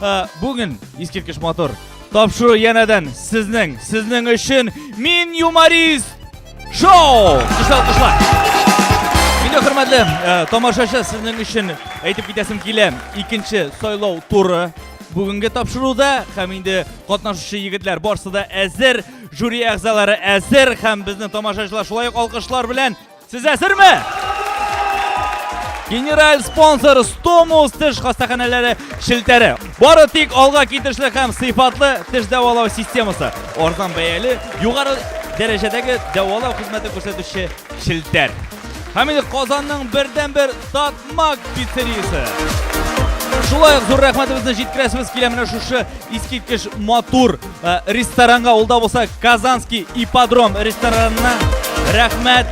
Ә, Бүген искиткеч матур тапшыру янәдән сезнең, сезнең өчен мин юморист шоу! Кышла, кышла! Видео хөрмәтле ә, тамашачы сезнең өчен әйтеп китәсем килә. Икенче сайлау туры бүгенге тапшыруда һәм инде катнашучы егетләр барсы да әзер, жюри әгъзалары әзер һәм безнең тамашачылар шулай ук алкышлар белән Сез әзерме? Генераль спонсор Стомус теш хастаханәләре шелтәре. Бары тик алга китешле һәм сыйфатлы теш дәвалау системасы. Арзан бәяле, югары дәрәҗәдәге дәвалау хезмәте күрсәтүче шелтәр. Һәм инде Казанның бердәнбер Татмак пиццериясе. Шулай ук зур рәхмәтебезне җиткерәсебез килә менә шушы искиткеч матур Э, ресторанга ул да болса казанский ипподром ресторанына рәхмәт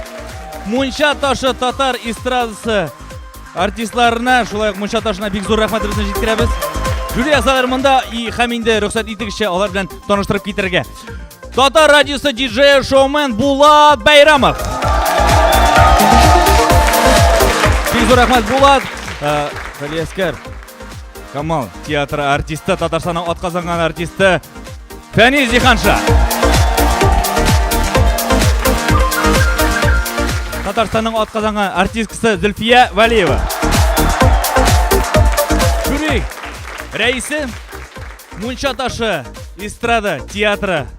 мунча ташы татар эстрадасы артистларына шулай ук мунча ташына бик зур рәхмәтебезне җиткерәбез Юлия Садыр монда и һәм инде рөхсәт итегезчә алар белән таныштырып китерергә татар радиосы диджей шоумен булат бәйрамов бик зур рәхмәт булат э, Галиәскәр Камал театры артисты, Татарстанның атказанган артисты Фәнис Диханша. Татарстанның атказанган артисткасы Зөлфия Валиева. Жюри рәисе Мунча ташы эстрада театры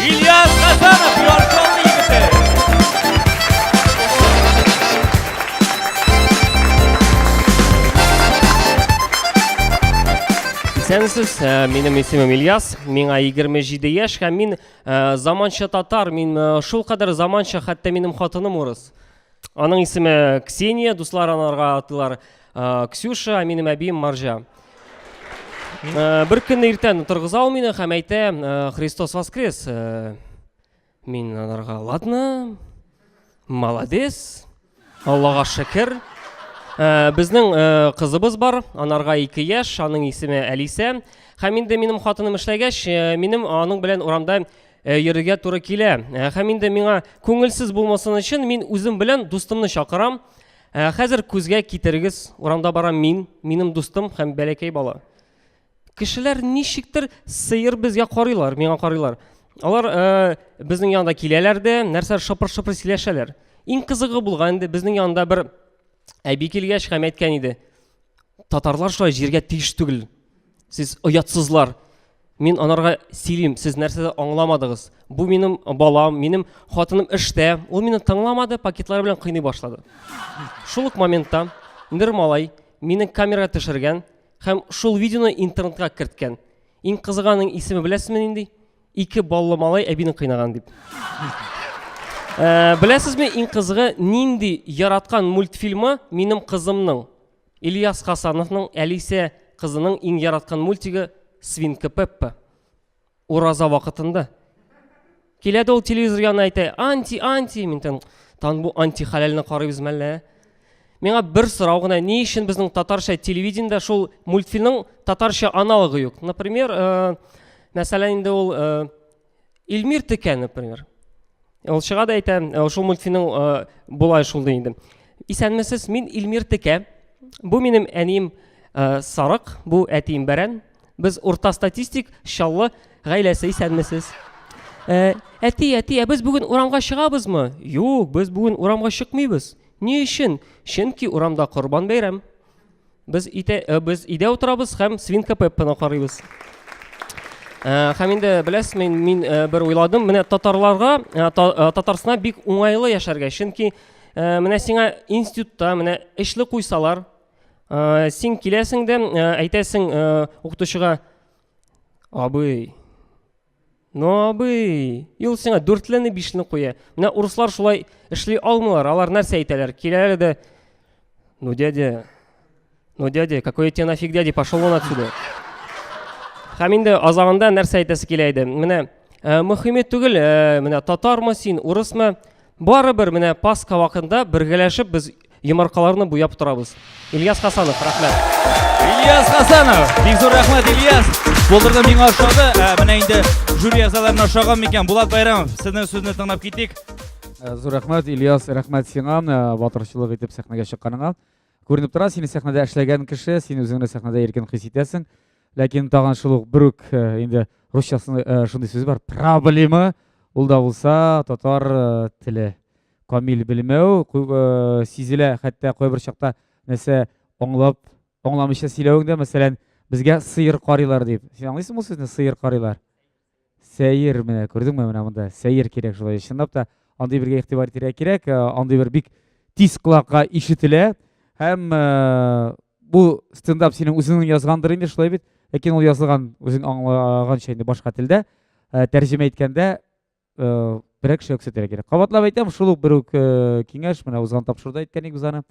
Ильяс Хасанов, Яркалны егете! Исәнсез, ә, минем исемем Ильяс, миңа 27 яшь һәм мин ә, заманча татар, мин ә, шул кадәр заманча, хәтта минем хатыным урыс. Аның исеме Ксения, дуслар анарга атылар э, Ксюша, ә минем әбием Маржа. Э, бер көнне иртән торгыза ул мине һәм әйтә, э, Христос воскрес. Мин анарга, ладно, молодец, Аллага шәкер. Безнең кызыбыз бар, анарга 2 яшь, аның исеме Әлисә. Һәм инде минем хатыным эшләгәч, минем аның белән урамда Э, йөрергә туры килә э, һәм инде миңа күңелсез булмасын өчен мин үзем белән дустымны чакырам э, хәзер күзгә китерегез урамда барам мин минем дустым һәм бәләкәй бала кешеләр ничектер сыер безгә карыйлар миңа карыйлар алар ә, безнең янда киләләр дә нәрсә шыпыр шыпыр сөйләшәләр иң кызыгы булган инде безнең янда бер әби килгәч һәм әйткән иде татарлар шулай җиргә тиеш түгел Сез оятсызлар. Мин анарга сөйлим, сез нәрсәдә аңламадыгыз. Бу минем балам, минем хатыным эштә. Ул мине тыңламады, пакетлары белән кыйный башлады. Шул ук моментта Нир малай мине камера төшергән һәм шул видеоны интернетка керткән. Иң кызыганың исеме беләсезме нинди? Ике баллы малай әбине кыйнаган дип. Ә, беләсезме иң кызыгы нинди яраткан мультфильмы минем кызымның? Ильяс Хасановның Әлисә кызының иң яраткан мультигы Свинка Пеппа. Ураза вакытында. Килә дә ул телевизор янына әйтә, анти, анти, мин тан, тан бу анти хәләлне карыйбыз мәллә. Ә? Миңа бер сорау гына, ни өчен безнең татарча телевидениедә шул мультфильмның татарча аналогы юк? Например, э, мәсәлән, инде ул э, Илмир Текә, например. Ул чыга да әйтә, шул мультфильмның болай шул ди инде. Исәнмесез, мин Илмир Текә. Бу минем әнием Сарык, бу әтием Бәрән. Без урта статистик, шаллы гаиләсе исәнмесез. Э, әти, әти, ә без бүген урамга чыгабызмы? Юк, без бүген урамга чыкмыйбыз. Ни өчен? Чөнки урамда Корбан бәйрәм. Без ите, э, без идә утырабыз һәм свинка Пеппаны карыйбыз. Э, һәм инде беләсез, мин мин э, бер уйладым, менә татарларга Татарстанда бик уңайлы яшәргә, чөнки менә сиңа институтта менә эшле куйсалар, син киләсең дә әйтәсең укытучыга, абый, Ну, абый, юл сиңа дүртлене, бишне куя. Менә урыслар шулай эшли алмыйлар, алар нәрсә әйтәләр? Киләләр дә, ну, дядя, ну, дядя, какой я тебе нафиг дядя, пошел вон отсюда. Һәм инде азагында нәрсә әйтәсе килә иде. Менә э, мөхиме түгел, э, менә татармы син, урысмы? Барыбер менә Пасха вакытында бергәләшеп без Йомаркаларны буяп торабыз. Ильяс Хасанов, рәхмәт. Ильяс Хасанов, бик зур рәхмәт Ильяс. Булдырды миңа ошады. Ә, менә инде жюри әгъзаларына ошаган микән? Булат Байрамов, сезнең сүзне тыңлап китик. Ә, зур рәхмәт Ильяс, рәхмәт сиңа ә, батырчылык итеп сәхнәгә чыкканыңа. Күренеп тора, сине сәхнәдә эшләгән кеше, син үзеңне сәхнәдә иркен хис итәсең. Ләкин тагын шул ук бер үк ә, инде русчасында шундый сүз бар, проблема. Ул да булса татар теле. камил белмәү сизелә, хәтта кайбер чакта нәрсә аңлап, аңламыйча сөйләвең дә, мәсәлән, безгә сыер карыйлар дип. Син аңлыйсың бу сүзне, сыер карыйлар? Сәер менә, күрдеңме менә монда? Сәер кирәк шулай. Чынлап та андый бергә игътибар итәргә кирәк, андый бер бик тиз колакка ишетелә һәм бу стендап синең үзеңнең язгандыр инде шулай бит ләкин ул язылган үзең аңлаганча инде башка телдә тәрҗемә иткәндә э, берәр кешегә күрсәтергә кирәк кабатлап әйтәм шул ук бер үк э, киңәш менә узган тапшыруда әйткән идек без аны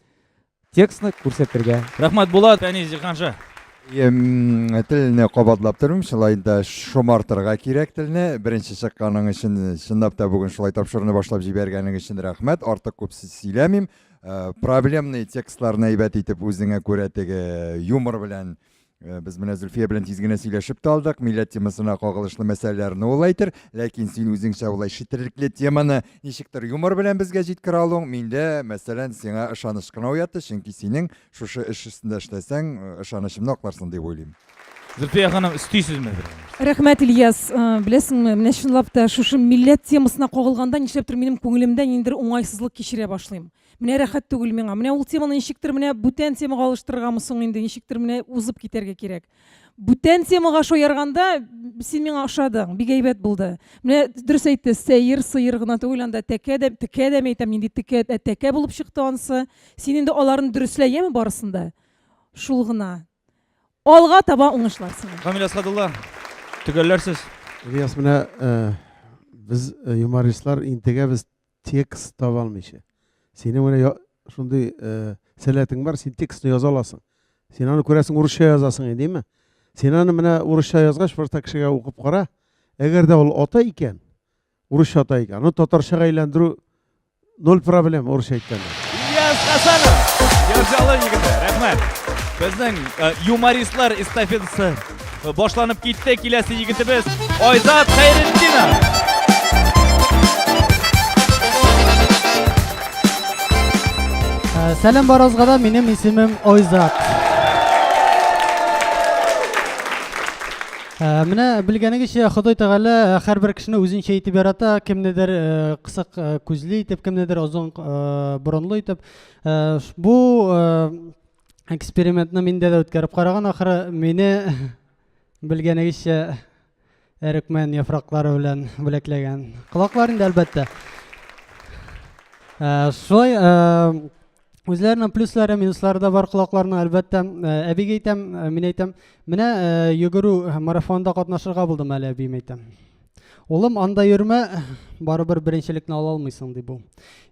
текстны күрсәтергә рәхмәт булат фәнис җиһанша телне кабатлап торыйм шулай да шомартырга кирәк телне беренче чыкканың өчен чынлап та бүген шулай тапшыруны башлап җибәргәнең өчен рәхмәт артык күп сөйләмим э, проблемный текстларны әйбәт итеп үзеңә күрә теге юмор белән Э, без менә Зөлфия белән тиз генә сөйләшеп тә алдык, милләт темасына кагылышлы мәсьәләләрне ул әйтер, ләкин син үзеңчә улай шитерлекле теманы ничектер юмор белән безгә җиткерә алуың миндә, мәсәлән, сиңа ышаныч кына уятты, чөнки синең шушы эш өстендә эшләсәң, э, ышанычымны акларсың дип уйлыйм. Зөлфия ханым, өстисезме? Рәхмәт, Ильяс. Э, беләсеңме, менә чынлап та шушы милләт темасына кагылганда нишләптер минем күңелемдә ниндидер уңайсызлык кичерә башлыйм. Менә рәхәт түгел миңа. Менә ул теманы ничектер менә бүтән темага алыштырыргамы соң инде, ничектер менә узып китәргә кирәк. Бүтән темага шаярганда син миңа ошадың, бик әйбәт булды. Менә дөрес әйтте, сәер, сыер гына түгел, анда тәкә дә, текә дә әйтәм, нинди текә, ә тәкә булып чыкты ансы. Син инде аларны дөреслә, яме барысында. Шул гына. Алга таба уңышлар сиңа. Камил Асадулла, төгәлләрсез. Ильяс, менә э, без э, юмористлар интегәбез Текст таба алмыйча. Синең менә шундый э, сәләтең бар, син текстны яза аласың. Син аны күрәсең, урысча язасың инде, димме? Син аны менә урысча язгач, бер кешегә укып кара. Әгәр дә ул ата икән, урысча ата икән, аны татарчага әйләндерү ноль проблем урысча әйткәндә. Ильяс Хасанов, Ярҗалы егете, рәхмәт. Безнең э, юмористлар эстафетасы Башланып китте киләсе егетебез Айзат Хәйретдинов. Сәлем баразга да минем исемем Айзат. Менә белгәнегезчә Ходай Тәгалә һәрбер кешене үзенчә итеп ярата, кемнедер кысык күзле итеп, кемнедер озын борынлы итеп. Бу экспериментны миндә дә үткәреп караган ахры мине белгәнегезчә әрекмән яфраклары белән бүләкләгән колаклар инде әлбәттә ә, шулай ә, үзләренең плюслары минуслары да бар колакларның әлбәттә ә, әбигә әйтәм ә, мин әйтәм менә ә, йөгерү марафонында катнашырга булдым әле әбием әйтәм Улым, анда йөрмә, барыбер беренчелекне ала алмыйсың, ди бу.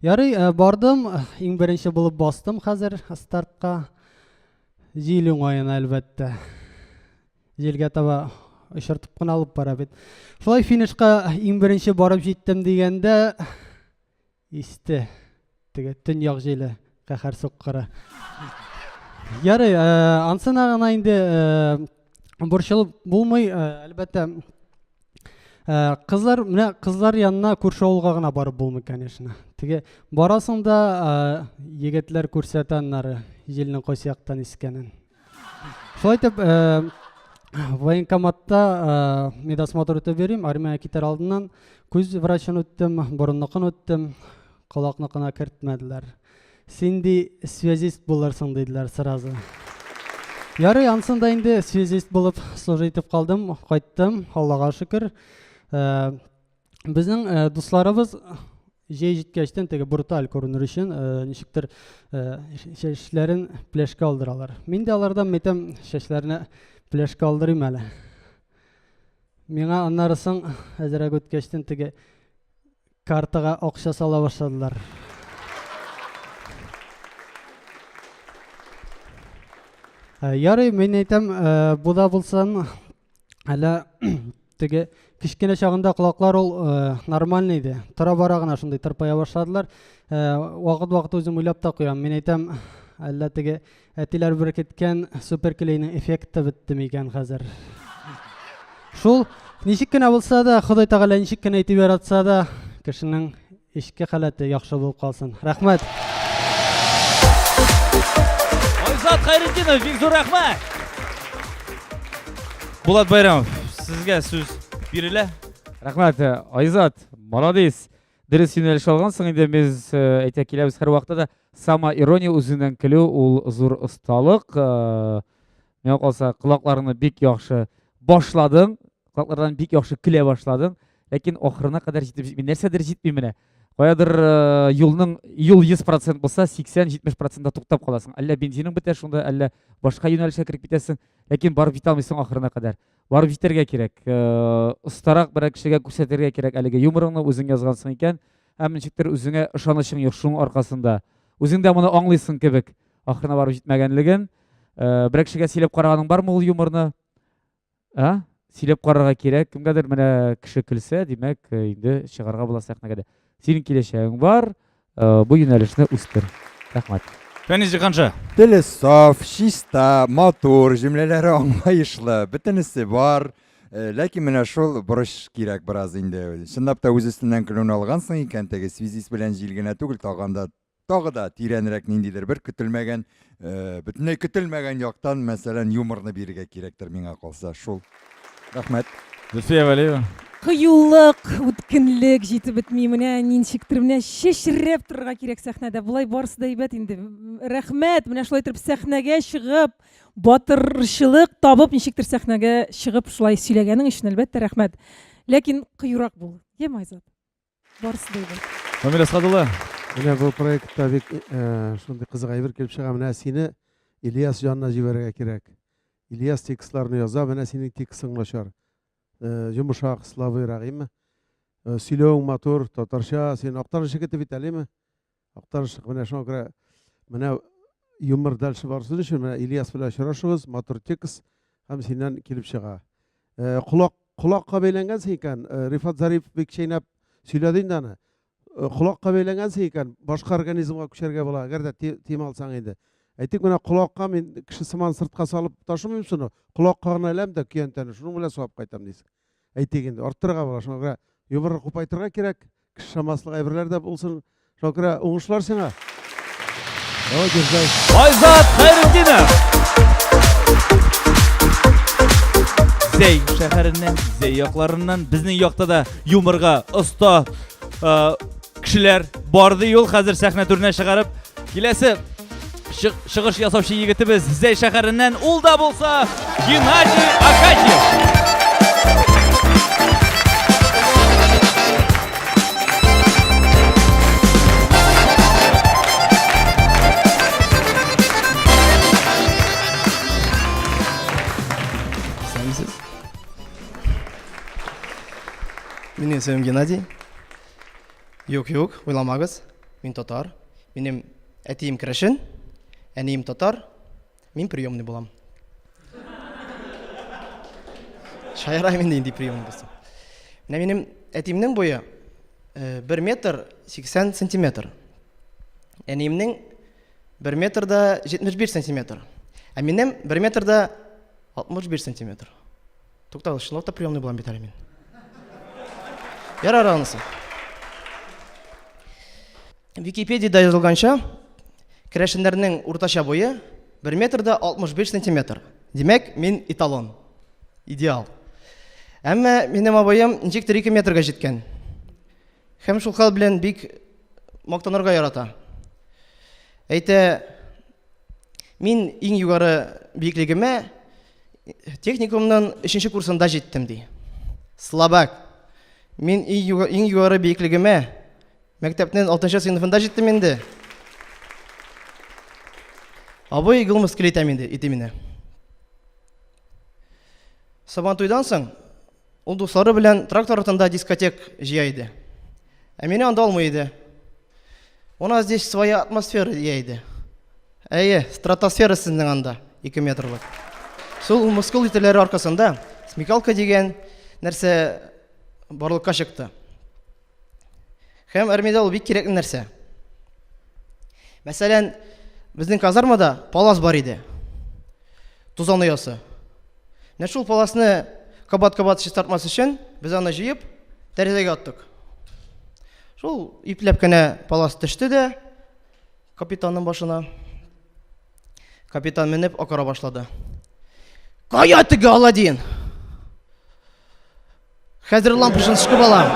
Ярый, э, бардым, иң беренче булып бастым хәзер стартка. Җил уңаена, әлбәттә. Җилгә таба очыртып кына алып бара бит. Шулай финишка иң беренче барып җиттем дигәндә, Исте. Теге төньяк җиле каһәр суккыры. Ярый, э, ансына гына инде э, борчылып булмый, э, әлбәттә. Э, кызлар, менә кызлар янына күрше авылга гына барып булмый, конечно. Теге барасың да, э, егетләр күрсәтә аннары җилнең кайсы яктан искәнен. Шулай итеп, э, военкоматта э, медосмотр үтеп йөрим, армия китер алдыннан күз врачын үттем, борынныкын үттем, колакныкына кертмәделәр. Син ди связист булырсың диделәр сразу. Ярый, ансын да инде связист булып служить итеп калдым, кайттым, Аллага шөкер. Э, безнең э, дусларыбыз җәй җиткәчтән теге бруталь күренер өчен э, ничектер э, чәчләрен пляшка алдыралар. Мин дә алардан мәйтәм чәчләренә пляшка алдырыйм әле. Миңа аннары соң әзерәк үткәчтән теге картага акча сала башладылар. Э, ярый, мин әйтәм, э, бу да булсын, Әллә теге кечкенә чагында колаклар ул э, нормальный иде. Тора бара гына шундый тырпая башладылар. Э, Вакыт-вакыт үзем уйлап та куям. Мин әйтәм, әллә теге әтиләр беркеткән суперклейның эффекты бетте микән хәзер? Шул ничек кенә булса да, Ходай Тәгалә ничек кенә итеп яратса да, кешенең Эчке халәте яхшы булып калсын. Рәхмәт. Айзат Хайретдинов, бик зур рәхмәт. Булат Байрамов, сезгә сүз бирелә. Рәхмәт, э, Айзат, молодец. Дөрес юнәлеш алгансың инде без э, әйтә киләбез һәр вакытта да сама ирония үзеннән көлү ул зур осталык. Э, Миңа калса, колакларны бик яхшы башладың, колаклардан бик яхшы көлә башладың, ләкин ахырына кадәр җитеп җитми. Нәрсәдер җитми менә. Каядыр э, юлның юл 100% булса, 80-70%-да туктап каласың. Әллә бензиның бетә шунда, әллә башка юнәлешкә кереп китәсең, ләкин барып җитә алмыйсың ахырына кадәр. Барып җитәргә кирәк. Э, Остарак берәр кешегә күрсәтергә кирәк әлеге юморыңны үзең язгансың икән, һәм ничектер үзеңә ышанычың юк шуның аркасында. Үзең дә моны аңлыйсың кебек. Ахырына барып җитмәгәнлеген. Э, Берәк кешегә сөйләп караганың бармы ул юморны? А? Сөйләп карарга кирәк. Кемгәдер менә кеше көлсә, димәк, э, инде чыгарга була сәхнәгә дә. Синең киләчәгең бар. Э, Бу юнәлешне үстер. Рәхмәт. Фәнис Җиһанша. Теле саф, чиста, матур, җөмләләре аңлаешлы, бөтенесе бар. Э, Ләкин менә шул борыч кирәк бераз инде. Чынлап та үз өстеннән көлүне алгансың икән, теге связист белән җил генә түгел, тагын да Тагы да тирәнрәк ниндидер бер көтелмәгән, э, бөтенләй көтелмәгән яктан, мәсәлән, юморны бирергә кирәктер миңа калса. Шул. Рәхмәт. Зөлфия Вәлиева. Кыюлык, үткенлек җитеп бетми. Менә ничектер менә чәчрәп торырга кирәк сәхнәдә. Болай барысы да әйбәт инде. Рәхмәт. Менә шулай торып сәхнәгә чыгып, батырчылык табып ничектер сәхнәгә чыгып шулай сөйләгәнең өчен әлбәттә рәхмәт. Ләкин кыюрак бул. Йә, Майзат. Барысы да әйбәт. Камиль Әсхат улы, менә бу проектта бик шундый кызык әйбер килеп чыга. Менә сине Ильяс янына җибәрергә кирәк. Ильяс текстларны яза, менә синең текстың начар. Йомшак, слабыйрак, әйеме? Сөйләвең матур, татарча, син актаручы кете бит әле, әйеме? Актарышлык менә шуңа күрә менә юмор дальше барсын өчен менә Ильяс белән очрашыгыз, матур текст һәм синнән килеп чыга. Э, колак колакка бәйләнгәнсең икән, э, Рифат Зариф бик чәйнәп сөйләде инде аны. Э, колакка бәйләнгәнсең икән, башка организмга күчәргә була, әгәр дә тим алсаң инде. Әйтик, менә колакка мин кеше сыман сыртка салып ташымыйм шуны, колакка гына әләм дә көянтәне, шуның белән савап кайтам дисең. әйтик инде арттырырга була шуңа күрә юморны купайтырга кирәк кеше шамаслык әйберләр дә булсын шуңа күрә уңышлар сиңа давай держай айзат хәйретдинов зәй шәһәреннән зәй якларыннан безнең якта да юморга оста Кешеләр барды юл хәзер сәхнә түренә чыгарып, киләсе чыгыш ясаучы егетебез Зәй шәһәреннән ул да булса Геннадий Акатьев. Меня зовут Геннадий. Юк, юк, уйламагыз. Мин татар. Минем әтием керәшен, әнием татар. Мин приемный булам. Шаяра мин инде приемный булсам. Менә минем әтиемнең буе 1 э, метр 80 сантиметр. Әниемнең 1 метр да 71 сантиметр. Ә минем 1 метр да 61 сантиметр. Туктал, чынлап та приемный булам бит әле мин. Ярар анысы. Википедияда язылганча, керәшеннәрнең уртача буе 1 метрда 65 сантиметр. Димәк, мин эталон. Идеал. Әмма минем абыем ничек 2 метрга җиткән. Һәм шул хәл белән бик мактанырга ярата. Әйтә, мин иң югары биеклегемә Техникумның өченче курсында җиттем, ди. Слабак. Мин иң югары биеклегемә мәктәпнең алтынчы сыйныфында җиттем инде. Абый гыл мыскыл итәм инде, итимине. Сабантуйдан соң Ул дуслары белән трактор артында дискотек җыя иде. Ә мине анда алмый иде. У нас здесь своя атмосфера дия иде. Әйе, стратосфера сезнең анда, 2 метрлык. Шул мускул ителәре аркасында смекалка дигән нәрсә барлыкка чыкты. Һәм армиядә ул бик кирәкле нәрсә. Мәсәлән, безнең казармада палас бар иде. Тузан оясы. Менә шул паласны кабат-кабат чистартмас өчен без аны җыеп тәрәзәгә аттык. Шул ипләп кенә палас төште дә капитанның башына. Капитан менеп акыра башлады. Кая теге Аладдин? Хәзер лампочын шкып алам.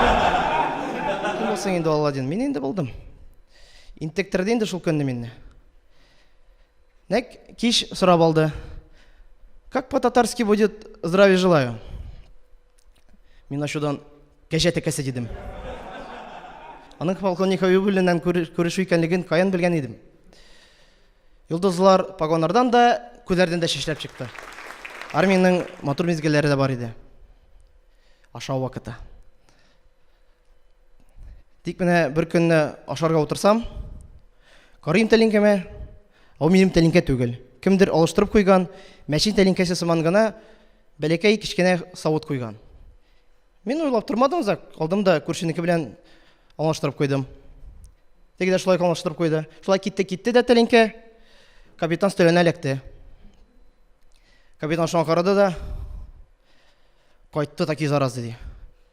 Кем булсаң инде Алладин? Мин инде булдым. Интектерде инде шул көнне минне. Нәк кич сорап алды. Как по-татарски будет здравия желаю? Мин ачудан кәҗә тәкәсе дидем. Аның полковник Хабибуллиннан күрешу икәнлеген каян белгән идем? Йолдызлар погоннардан да, күзләрдән дә чәчләп чыкты. Армиянең матур мизгелләре дә бар иде. Ашау вакыты. Тик менә бер көнне ашарга утырсам, карыйм тәлинкәмә, ау минем тәлинкә түгел. Кемдер алыштырып куйган, мәчен тәлинкәсе сыман гына бәләкәй кечкенә савыт куйган. Мин уйлап тормадым озак, алдым да күршенеке белән аңлаштырып куйдым. Теге дә шулай аңлаштырып куйды. Шулай китте, китте дә тәлинкә капитан стөленә эләкте. Капитан шуңа карады да кайтты таки заразы ди.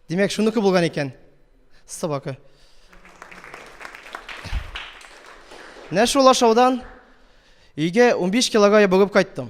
Димәк, шуныкы булган икән. Собака. Менә шул ашаудан өйгә 15 килога ябыгып кайттым.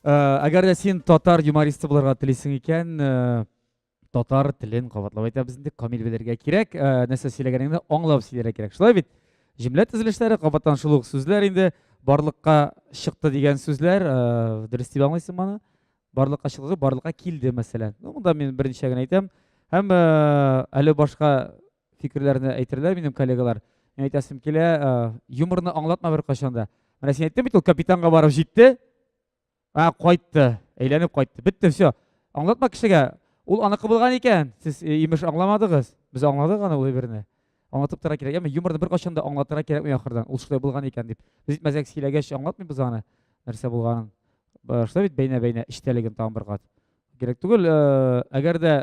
Әгәр дә син татар юмористы булырга телисең икән, татар телен кабатлап әйтәбез инде, камил белергә кирәк, нәрсә сөйләгәнеңне аңлап сөйләргә кирәк. Шулай бит? Җөмлә төзелешләре, кабаттан шул ук сүзләр инде, барлыкка чыкты дигән сүзләр, дөрес дип аңлыйсың моны? Барлыкка чыкты, барлыкка килде, мәсәлән. Ну, монда мин берничә генә әйтәм. Һәм әле башка фикерләрне әйтерләр минем коллегалар. Мин әйтәсем килә, юморны аңлатма бер кашанда. Менә син әйттең бит ул капитанга барып җитте. А, кайтты, әйләнеп кайтты. Бетте, все. Аңлатма кешегә. Ул аныкы булган икән. Сез э, имеш аңламадыгыз. Без аңладык аны ул әйберне. Аңлатып тора кирәк. Яме юморны бер кашанда аңлатырга кирәкми ахырдан. Ул шулай булган икән дип. Без итмәзәк сөйләгәч аңлатмыйбыз аны. Нәрсә булганын. Башта бит бәйнә-бәйнә эчтәлеген тагын бер кат. Кирәк түгел, э, әгәр дә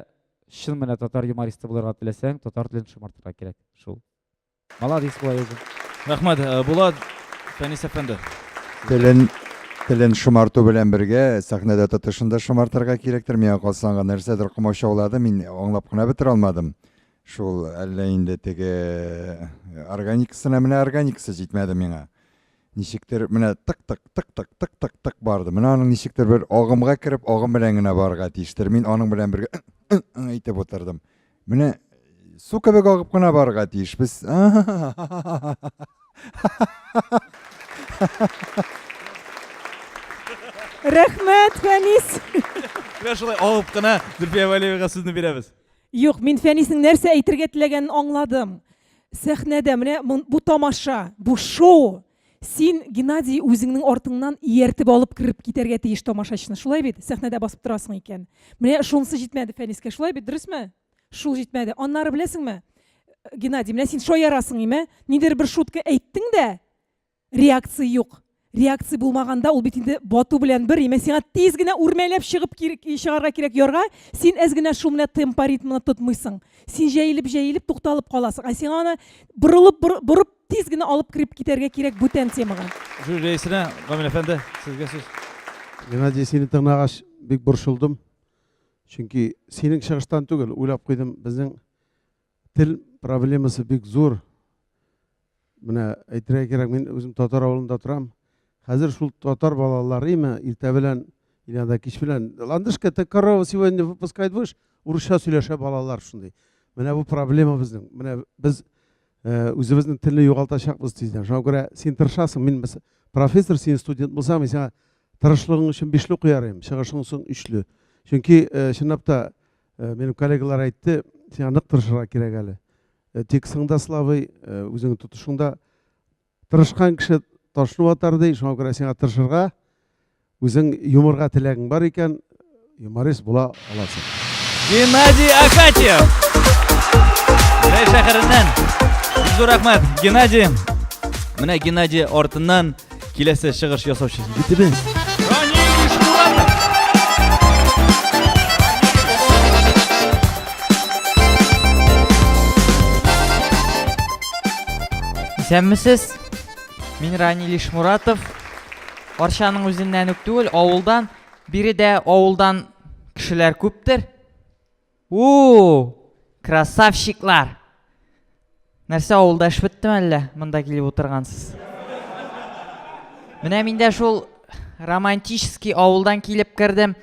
чын менә татар юмористы булырга теләсәң, татар телен шомартырга кирәк. Шул. Молодец була язу. Рәхмәт, э, Булат Фәнис әфәнде. Телен телен шомарту белән бергә сәхнәдә тотышын да шомартырга кирәктер. Миңа калса аңа нәрсәдер комачаулады, мин аңлап кына бетерә алмадым. Шул әллә инде теге э, органикасына менә органикасы җитмәде миңа. Ничектер менә тык-тык, тык-тык, тык-тык, тык барды. Менә аның ничектер бер агымга кереп, агым белән генә барырга тиештер. Мин аның белән бергә әйтеп утырдым. Менә су кебек агып кына барырга тиеш. Без Рәхмәт, Фәнис. Менә шулай агып кына Зөлфия Вәлиевага сүзне бирәбез. Юк, мин Фәнисның нәрсә әйтергә теләгәнен аңладым. Сәхнәдә менә бу тамаша, бу шоу. Син, Геннадий, үзеңнең артыңнан ияртеп алып кереп китәргә тиеш тамашачыны. Шулай бит? Сәхнәдә басып торасың икән. Менә шунысы җитмәде Фәнискә. Шулай бит, дөресме? Шул җитмәде. Аннары беләсеңме? Геннадий, менә син шаярасың име? Нидер бер шутка әйттең дә, Реакция юк. Реакция булмаганда, ул бит инде бату белән бер. Имә сиңа тиз генә үрмәләп чыгып чыгарга кирәк ярга. Син әз генә шумле темпа ритмны тотмыйсың. Син җәелеп-җәелеп тукталып каласың. Ә сиңа аны борылып борып тиз генә алып кереп китәргә кирәк бүтән темага. Жюри рәисенә, Гамил әфәнде, сезгә сүз. Геннадий, сине тыңлагач, бик борчылдым. Чөнки синең чыгыштан түгел, уйлап куйдым, безнең Тел проблемасы бик зур. Менә әйтергә кирәк, мин үзем татар авылында торам. Хәзер шул татар балалары имә иртә белән или анда кич белән ландышка это корова сегодня выпускает выш урысча сөйләшә балалар шундый. Менә бу проблема безнең. Менә без э, үзебезнең телне югалтачакбыз тиздән. Шуңа күрә син тырышасың. Мин профессор, син студент булсам, мин сиңа тырышлыгың өчен бишле куярым, чыгышың соң өчле. Чөнки э, чынлап та Э, минем коллегалар әйтте сиңа нык тырышырга кирәк әле э, текстың да слабый э, үзеңнең тотышың да тырышкан кеше ташны ватар ди шуңа күрә сиңа тырышырга үзең юморга теләгең бар икән юморист була аласың геннадий акатьев рәй шәһәреннән зур рәхмәт геннадий менә геннадий артыннан Киләсе чыгыш ясаучы егетебез. Исәнмесез. Мин Рани Лишмуратов. Арчаның үзеннән үк түгел, авылдан. Биредә авылдан кешеләр күптер. Уу! Красавчиклар! Нәрсә, авылда эш беттеме әллә, монда килеп утыргансыз? Менә мин дә шул романтический авылдан килеп кердем.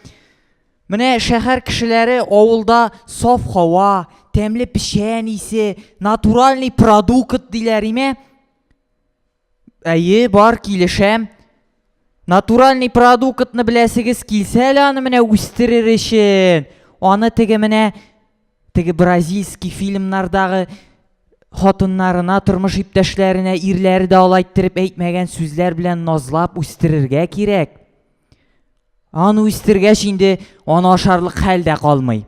Менә шәһәр кешеләре авылда саф һава, тәмле печән исе, натуральный продукт диләр име? Әйе, бар, килешәм. Натуральный продуктны беләсегез килсә әле аны менә үстерер өчен. Аны теге менә теге бразильский фильмнардагы хатыннарына, тормыш иптәшләренә ирләре дә алай иттереп әйтмәгән сүзләр белән назлап үстерергә кирәк. Аны үстергәч инде аны ашарлык хәл дә калмый.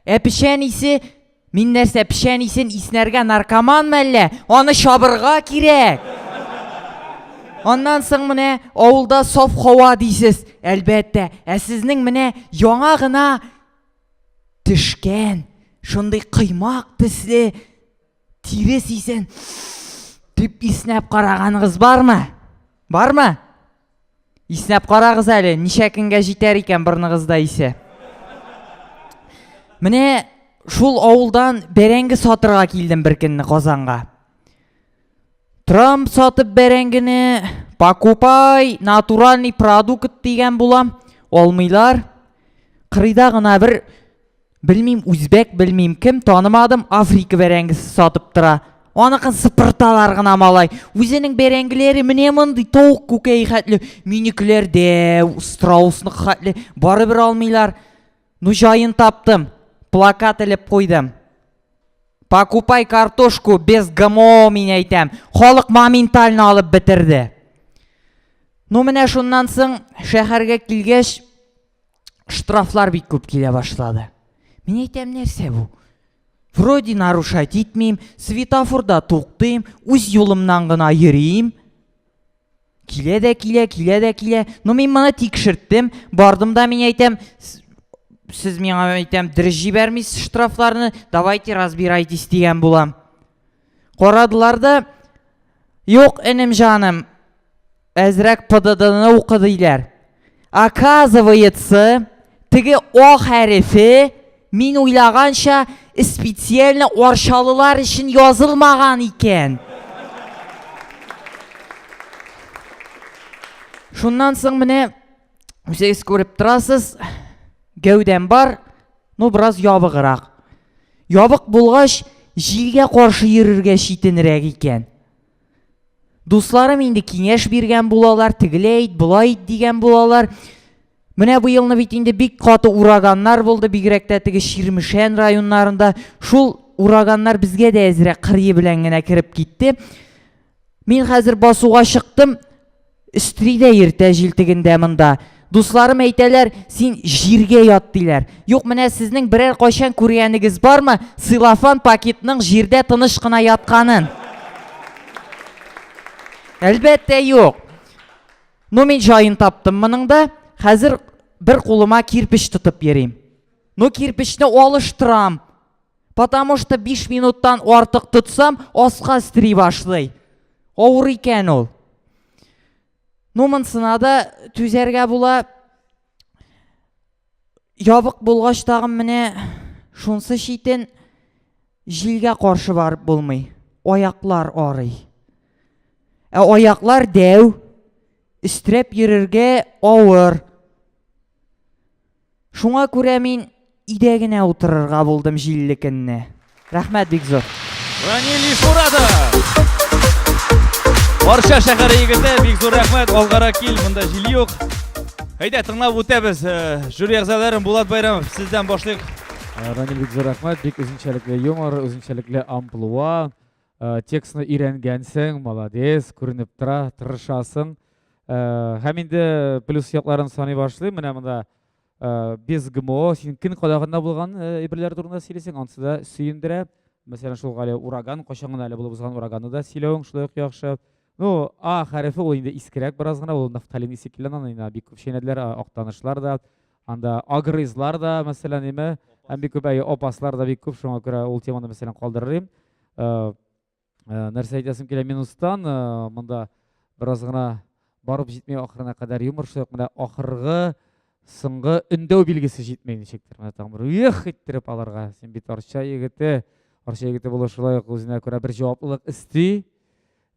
Ә печән исе Мин нәрсә печән исен иснәргә наркоман мәллә? Аны чабырга кирәк. Аннан соң менә авылда саф һава дисез, әлбәттә. Ә сезнең менә яңа гына төшкән, шундый кыймак төсле Тире сисен дип иснәп караганыгыз бармы? Бармы? Иснәп карагыз әле, ничә көнгә җитәр икән борныгызда исе. Менә шул авылдан бәрәңге сатырга килдем бер көнне Казанга. Трам сатып бәрәңгене, покупай, натуральный продукт дигән булам, алмыйлар. Кырыйда гына бер Белмим, үзбәк, белмим, кем танымадым, Африка бәрәңгесе сатып тора. Аныкын сыпырталар гына малай. Үзенең бәрәңгеләре менә мондый тавык күкәе хәтле, минекеләр дә страусны хәтле, барыбер алмыйлар. Ну җаен таптым, плакат элеп куйдым. Покупай картошку без ГМО мин әйтәм. Халык моментально алып бетерде. Ну менә шуннан соң шәһәргә килгәч штрафлар бик күп килә башлады. Мин әйтәм, нәрсә бу? Вроде нарушать итмим, светофорда туктыйм, үз юлымнан гына йөрим. Килә дә килә, килә дә килә. Но мин моны тикшерттем, бардым да мин әйтәм, сез миңа әйтәм, дөрес җибәрмисез штрафларны, давайте разбирайтесь дигән булам. Карадылар да, Юк, энем җаным, әзрәк ПДДны укы диләр. Оказывается, теге О хәрефе мин уйлаганча специально арчалылар өчен язылмаган икән. Шуннан соң менә Үзегез күреп торасыз, гәүдәм бар, ну бераз ябыграк. Ябык булгач, җилгә каршы йөрергә читенрәк икән. Дусларым инде киңәш биргән булалар, тегеләй ит, болай ит дигән булалар. Менә бу елны бит инде бик каты ураганнар булды, бигрәк тә теге Ширмешән районнарында. Шул ураганнар безгә дә әзрәк кырые белән генә кереп китте. Мин хәзер басуга чыктым, өстри дә иртә җилтегендә монда. Дусларым әйтәләр, син җиргә ят диләр. Юк, менә сезнең берәр кайчан күргәнегез бармы силофан пакетның җирдә тыныч кына ятканын? Әлбәттә, юк. Ну, мин җаен таптым моның да. Хәзер бер кулыма кирпич тотып йөрим. Ну, кирпечне алыштырам. Потому что 5 минуттан артык тотсам, аска стри башлый. Авыр икән ул. Ну, монсына да түзәргә була. Ябык булгач тагын менә шунсы читен җилгә каршы барып булмый. Аяклар арый. Ә аяклар дәү, истрәп йөрергә авыр. Шуңа күрә мин өйдә генә утырырга булдым җилле көнне. Рәхмәт бик зур. Ранил Ишмуратов! Барча шәһәре егете, бик зур рәхмәт, алгарак кил, монда җил юк. Әйдә, тыңлап үтәбез. Э, жюри әгъзалары Булат Байрамов, сездән башлыйк. Э, Ранил бик зур рәхмәт, бик үзенчәлекле юмор, үзенчәлекле амплуа. Э, текстны өйрәнгәнсең молодец күренеп тора тырышасың э, һәм инде плюс якларын саный башлыйм менә монда э, без гмо син көн кадагында булган әйберләр турында сөйлисең анысы да сөендерә мәсәлән шул әле ураган кайчан гына әле булып узган ураганны да сөйләвең шулай ук яхшы ну а хәрефе ул инде искерәк бераз гына ул нафталин исе килгән аны бик күп чәйнәделәр актанышлар да Анда агрызлар да, мәсәлән, име, һәм бик күп әйе, опаслар да бик күп, шуңа күрә ул теманы, мәсәлән, калдырырым. Э, э, нәрсә әйтәсем килә минустан, э, монда бераз гына барып җитми ахырына кадәр юмор шук, менә ахыргы соңгы өндәү билгесе җитми ничектер. Менә тагын бер ух иттереп аларга. Син бит арча егете, арча егете булу шулай ук үзенә күрә бер җаваплылык исти.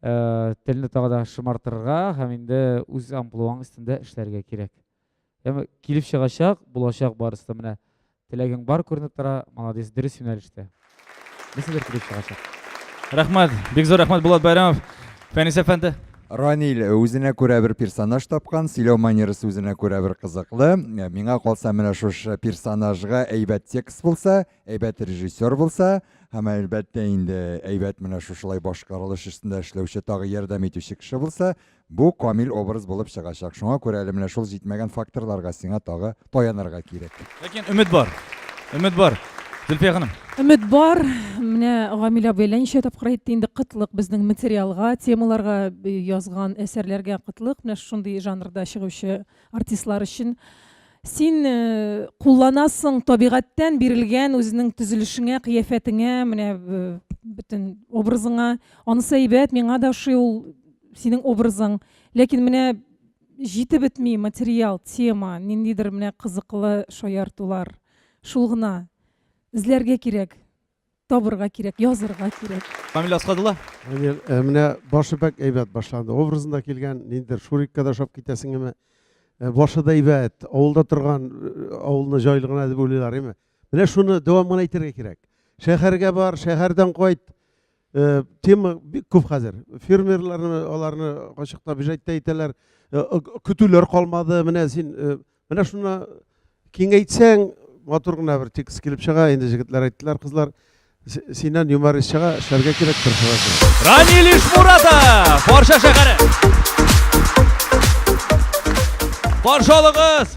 Э, телне тагы да шымартырга һәм инде үз амплуаң өстендә эшләргә кирәк. Яме, килеп чыгачак, булачак барысы да менә. Теләгең бар күренеп тора, молодец, дөрес юнәлештә. Нәрсәдер килеп чыгачак. Рәхмәт, бик зур рәхмәт Булат Байрамов. Фәнис әфәнде. Ранил үзенә күрә бер персонаж тапкан, сөйләү манерасы үзенә күрә бер кызыклы. Миңа калса, менә шушы персонажга әйбәт текст булса, әйбәт режиссер булса, һәм әлбәттә инде әйбәт менә шушылай башкарылыш өстендә эшләүче, тагы ярдәм итүче кеше булса, Бу камил образ булып чыгачак. Шуңа күрә әле менә шул җитмәгән факторларга сиңа тагы таянырга кирәк. Ләкин өмет бар. Өмет бар. Зөлфия ханым. Өмет бар. Менә Гамил абый әллә ничә тапкыр әйтте инде кытлык безнең материалга, темаларга э, язган әсәрләргә кытлык. Менә шундый жанрда чыгучы артистлар өчен син э, кулланасың табигатьтән бирелгән үзенең төзелешеңә, кыяфәтеңә, менә э, бөтен образыңа. Анысы әйбәт, миңа да ошый ул синең образың ләкин менә җитеп бетми материал тема ниндидер менә кызыклы шаяртулар шул гына эзләргә кирәк табырга кирәк язырга кирәк камил асхадулла әне э, менә башы бәк әйбәт башланды образында килгән ниндидер шурикка да ошап китәсең әмма э, башы да әйбәт авылда торган э, авылны җайлы гына дип уйлыйлар әмма менә шуны дәвам гына итәргә кирәк шәһәргә бар шәһәрдән кайт Э, тема бик күп хәзер фермерларны аларны ачык табижәттә әйтәләр э, көтүләр калмады менә син э, менә шуны киңәйтсәң матур гына бер текст килеп чыга инде җегетләр әйттеләр кызлар синнән юморист чыга эшләргә кирәк тырышырга ранилиш муратов барша шәһәре баршалыгыз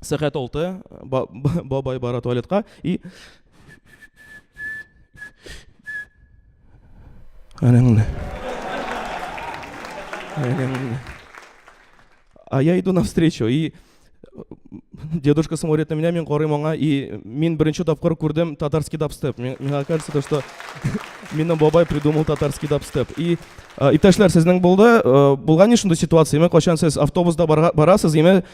Сәгать алты, бабай бара туалетка и... Әнеңне. Әнеңне. А я иду навстречу, и дедушка смотрит на меня, мин корым аңа, и мин беренче тапкыр күрдем татарский дабстеп. Миңа кажется, то, что минем бабай придумал татарский дабстеп. И иптәшләр, сезнең булды, булган ни шундый ситуация, ме качан сез автобуста барасыз, име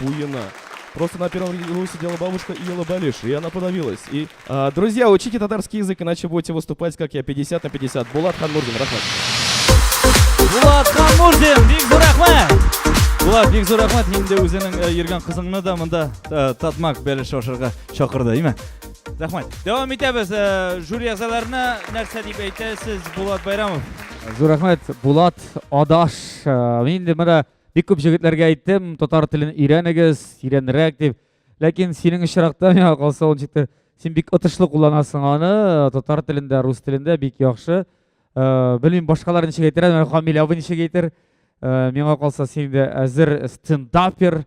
буена. Просто на первом ряду сидела бабушка и ела балиш, и она подавилась. И, а, друзья, учите татарский язык, иначе будете выступать, как я, 50 на 50. Булат Ханмурдин, рахмат. Булат Ханмурдин, бик зур рахмат! Булат, бик зур рахмат, инде үзенең э, йөргән кызыңны да монда э, татмак бәлеш ашарга чакырды, име? Рахмат. Дәвам итәбез. Э, жюри әгъзаларына нәрсә дип әйтәсез, Булат Байрамов? Зур рахмат, Булат, адаш. Мин инде менә Бик күп җегетләргә әйттем, татар телен өйрәнегез, тирәнрәк дип. Ләкин синең очракта миңа калса ул җитте. Син бик отышлы кулланасың аны, татар телендә, рус телендә бик яхшы. Э, белмим, башкалар ничек әйтер, ә Камил абый ничек әйтер. Э, миңа калса син дә әзер стендапер.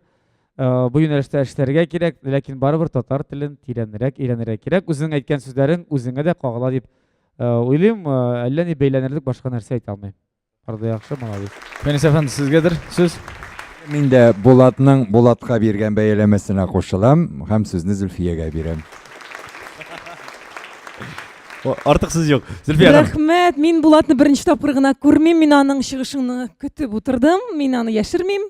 Э, бу юнәлештә эшләргә кирәк, ләкин барыбер татар телен тирәнрәк өйрәнергә кирәк. Үзең әйткән сүзләрең үзеңә дә кагыла дип уйлыйм. Әллә ни бәйләнерлек башка нәрсә әйтә алмыйм. Бар да яхшы, молодец. Фәнис әфәнде, сезгәдер сүз. Мин дә Булатның Булатка биргән бәяләмәсенә кушылам һәм сүзне Зөлфиягә бирәм. Артык сүз юк. Зөлфия ханым. Рәхмәт. Мин Булатны беренче тапкыр гына күрмим. Мин аның чыгышын көтеп утырдым. Мин аны яшермим.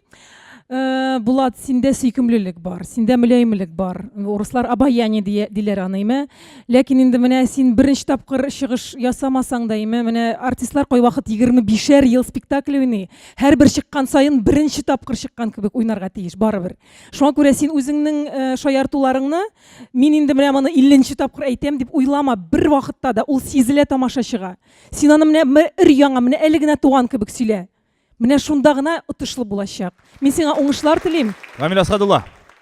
Э, Булат, синдә сөйкемлелек бар, синдә мөләйемлек бар. Урыслар обаяние дия, диләр аны, име? Ләкин инде менә син беренче тапкыр чыгыш ясамасаң да, име, менә артистлар кайвакыт 25-шәр ел спектакль уйный. Һәрбер чыккан саен беренче тапкыр чыккан кебек уйнарга тиеш барыбер. Шуңа күрә син үзеңнең э, шаяртуларыңны мин инде менә моны 50 тапкыр әйтәм дип уйлама, бер вакытта да ул сизелә тамашачыга. Син аны менә өр яңа, менә әле генә туган кебек сөйлә. Менә шунда гына отышлы булачак. Мин сиңа уңышлар телим. Рамил Асадулла.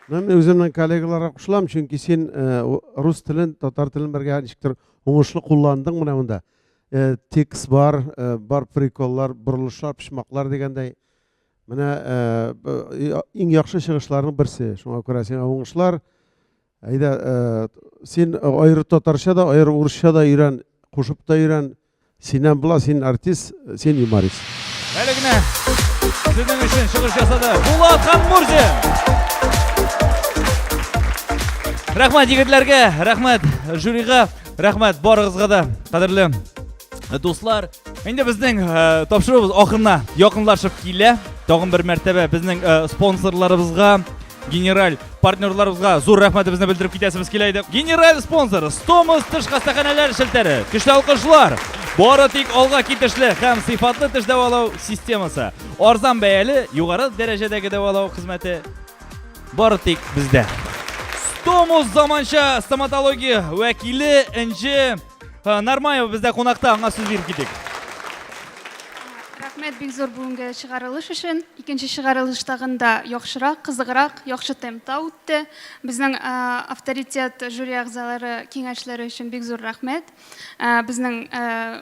Мин үземнең коллегаларга кушылам, чөнки син э, рус телен, татар телен бергә ничектер уңышлы кулландың менә монда. Э, текст бар, э, бар приколлар, борылышлар, почмаклар дигәндәй. Менә иң яхшы чыгышларның берсе. Шуңа күрә сиңа уңышлар. Әйдә, э, син аеры татарча да, аеры урысча да өйрән, кушып та өйрән. Синнән була, син артист, син юморист. Әле генә сезнең өчен чыгыш ясады. Булат һәм Мурзин. Рәхмәт егетләргә, рәхмәт жюрига, рәхмәт барыгызга да, кадерле дуслар. Инде безнең э, тапшыруыбыз ахырына якынлашып килә. Тагын бер мәртәбә безнең э, спонсорларыбызга Генераль партнерларыбызга зур рәхмәтебезне белдереп китәсебез килә иде. Генераль спонсор Стомус теш хастаханәләр шелтәре. Көчле алкышлар. Бары тик алга китешле һәм сыйфатлы теш дәвалау системасы. Арзан бәяле, югары дәрәҗәдәге дәвалау хезмәте бары тик бездә. Стомус заманча стоматология вәкиле Энҗе Э, Нармаева бездә кунакта, аңа сүз биреп китик. Рәхмәт бик зур бүгенге чыгарылыш өчен. Икенче чыгарылыш тагын да яхшырак, кызыграк, яхшы темпта үтте. Безнең э, авторитет жюри әгъзалары киңәшләре өчен бик зур рәхмәт. Э, Безнең э,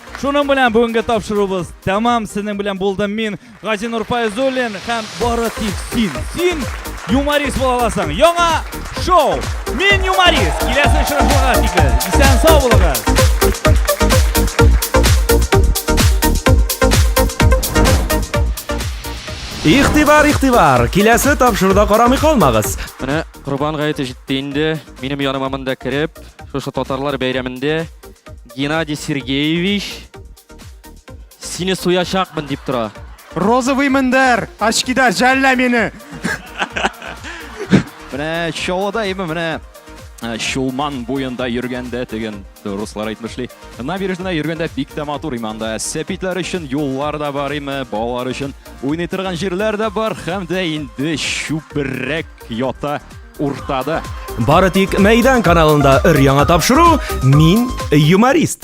Шуның белән бүгенге тапшыруыбыз тәмам. Сезнең белән булдым мин, Гази Нурфайзуллин һәм бары тик син. Син юморист була аласың. Яңа шоу. Мин юморист. Киләсе очрашуга тикле. Исән сау булыгыз. Ихтибар, ихтибар! Киләсе тапшыруда карамый калмагыз. Менә Корбан гаете җитте инде. Минем яныма монда кереп, шушы татарлар бәйрәмендә Геннадий Сергеевич, сине суячакмын дип тора. Розовый мендәр, очкида жәллә мине. Менә Чаллыда име менә э, Чулман буенда йөргәндә дигән руслар әйтмешли. Набережныйда йөргәндә бик тә матур име анда. Сәпитләр өчен юллар да бар име, балалар өчен уйный торган җирләр дә бар һәм дә инде чүпрәк ята. Уртада. Бары тик Мәйдан каналында өр-яңа тапшыру Мин юморист.